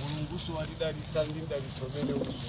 mulunguso watidalitsa ndi mdalitso umenewunso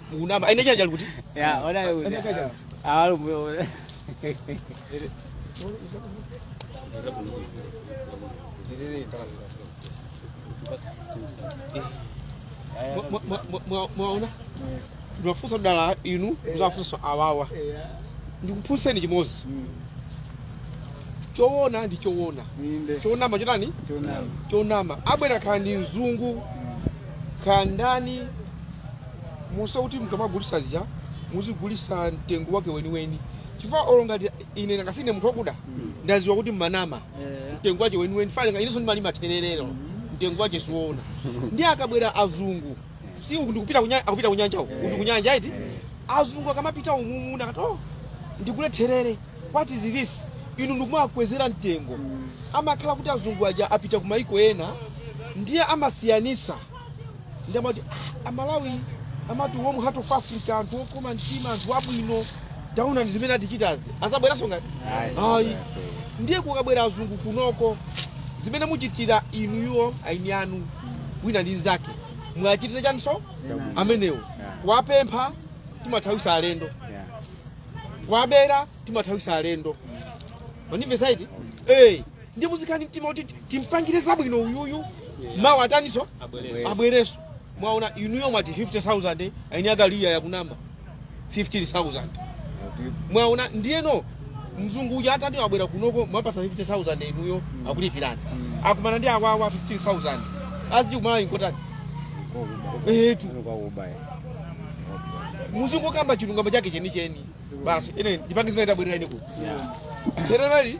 mukunama aini chanja li kuti Ya, ona yule. Ene kaja. Ah, yule. Mwa- mwa- mwa- mwa- mwaona timafunsa dala inu tizafunsa awawa ndikufunseni chimodzi choona ndi choona Ninde. chonama chotani Tunam. chonama abwera kaya ndi mzungu kaya ndani moti kuti mkamagulisa zija muzigulisa mtengo wake weniweni chifukwa olo ngati ine ngakhale sine munthu wakuda ndaziwa kuti mmanama Eh. mtengo wake weniweni chifukwa inenso ndimalima thererero mtengo wake siwoona ndiye akabwera azungu si uku ndikupita kunya- akupita kunyanja uku uku ndikunyanja iti azungu akamapita umumu akati oh ndikule therere what is this inu ndikumakwezera mtengo amakhala kuti azungu aja apita kumaiko ena ndiye amasiyanisa ndiye amati "Ah, amalawi amati warm heart of africa anthu okoma mtima anthu abwino taonani zimene atichitirazi azabweranso ngati ayi ndiye kukabwera azungu kunoko zimene muchitira inuyo aini anu wina ndi nzake muwachitire chanso amenewo kuwapempha timathawisa alendo kuwabera timathawisa alendo mwandimva etii eh ndiye muzikhala ndi mtima woti timpangire zabwino uyuyu mawa ataniso abwereso mwaona inuyo mwati 50000 aini akaliya yakunama 15000 mwaona ndiyeno mzungu uja atati wabwera kunoko mwapasa 50000 inuyo akulipirani akumana ndi awawa 15000 aziti kumalawi nkotani etu muzingokamba chilungamo chake chenicheni basi ine ndipange zimene tabwerera ine kuti tererali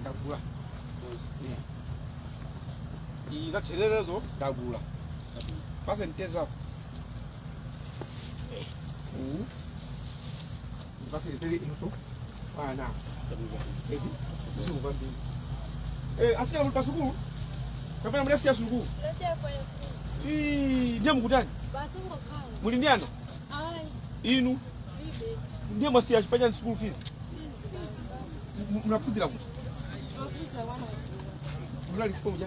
ndagula iyi zathererezo ndagula pasentezako uwu atsikana muli pasukulu kapena mudasiya sukulu Ii, ndiye mukutani muli ndi ana inu ndiye mwasiya chifukwa chani school fees M- munaphunzira kuti munali form 4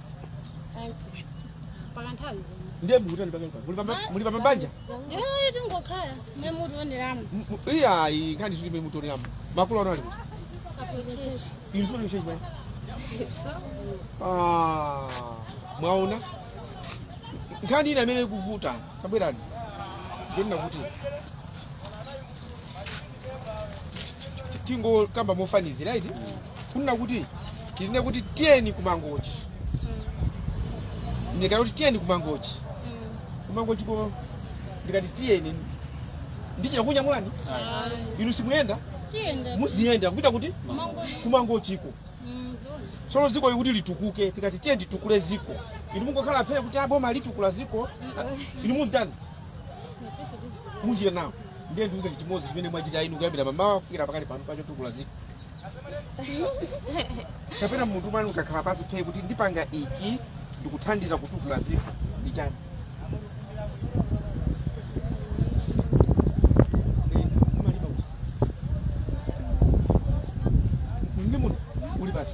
pakanthawi ndiye mukutani pake mukuti muli pa mabanja yoyo tingokhala mwe mutu wonderamo iyayi nkhani tili mwe mutoleramo makulu ano ali aprochechi inu sikuti mchechi pake Ah, mwaona nkhani ina imene ikuvuta tabwerani ndinakuti tingokamba mofanizira iti kunena kuti tinene kuti tiyeni kumangochi ndikati kuti tiyeni kumangochi kumangochi ko ndikati tiyeni ndichita kunyamulani inu simuyenda muziyenda kupita kuti kumangochiko tsono ziko kuti litukuke tikati tiyeni titukule ziko inu mungokhala phe kuti aboma litukula ziko inu muzitani muchita nawo Ndiye ndiuze chimodzi chimene mwachita inu kuyambira mamawa kufikira pakali pano pachotukula ziko. Kapena munthu mwanu ukakhala pansi phe kuti ndipanga ichi ndikuthandizira kutukula ziko ndi chani? Eh, umalipa kuti? Ndi munthu uli pati?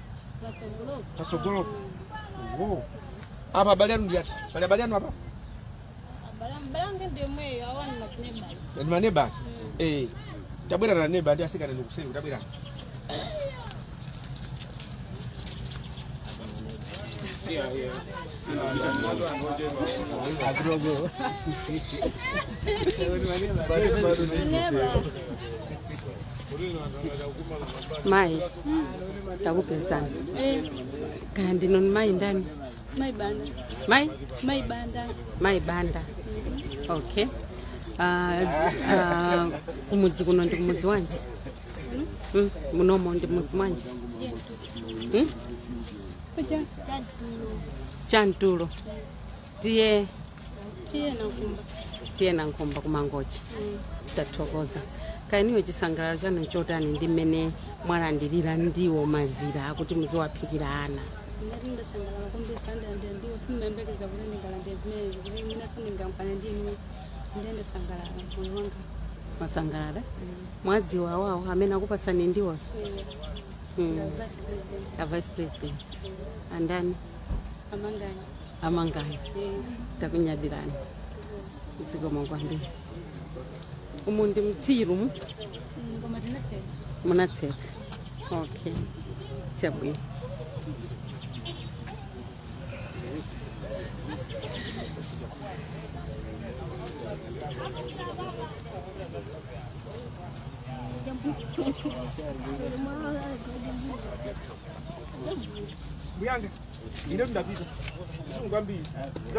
patsogolo Wo. apa abale anu ndi ati pali abale anu apa ndi maneba awa Eh, tabwera na neba ndi asikana ndi kuseri tabwera Neba. mayi takupezani Eh, kaya ndinu mayi ndani mai banda mayi mai banda mayi banda okay Ah, ah, kumudzi kuno ndi kumudzi wanji Mm, munomo ndi mudzi wanji Mm? kwa chantulo tiye tiye nankumba kumangochi tathokoza kaya inuyo chisangalalo chanu nchotani ndi mmene mwalandirira ndiwo mazira akuti muziwaphikira ana ndithu ndasangalala kwambiri kuti ndalandira ndiwo sindimayembekeza kuti ndingalandira zimenezo kuti inenso ndingaonane ndi inu ndiye ndasangalala moyo wanga mwasangalala mwadziwa awawo amene akupasani ndiwo Mm. ndawadziwa a vice president andani amangani amangani takunyadirani zikomo kwambiri umu ndi mtiru mu ngoma tinatseka munatseka okay chabwino Buyanga.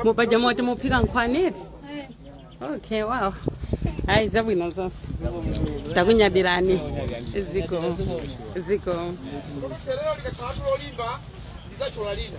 mupaja moti muphika nkhwani eti okay wow hayi zabwino zonse takunyadilani ziko Sereo likakhala tulolimba lizachola lina.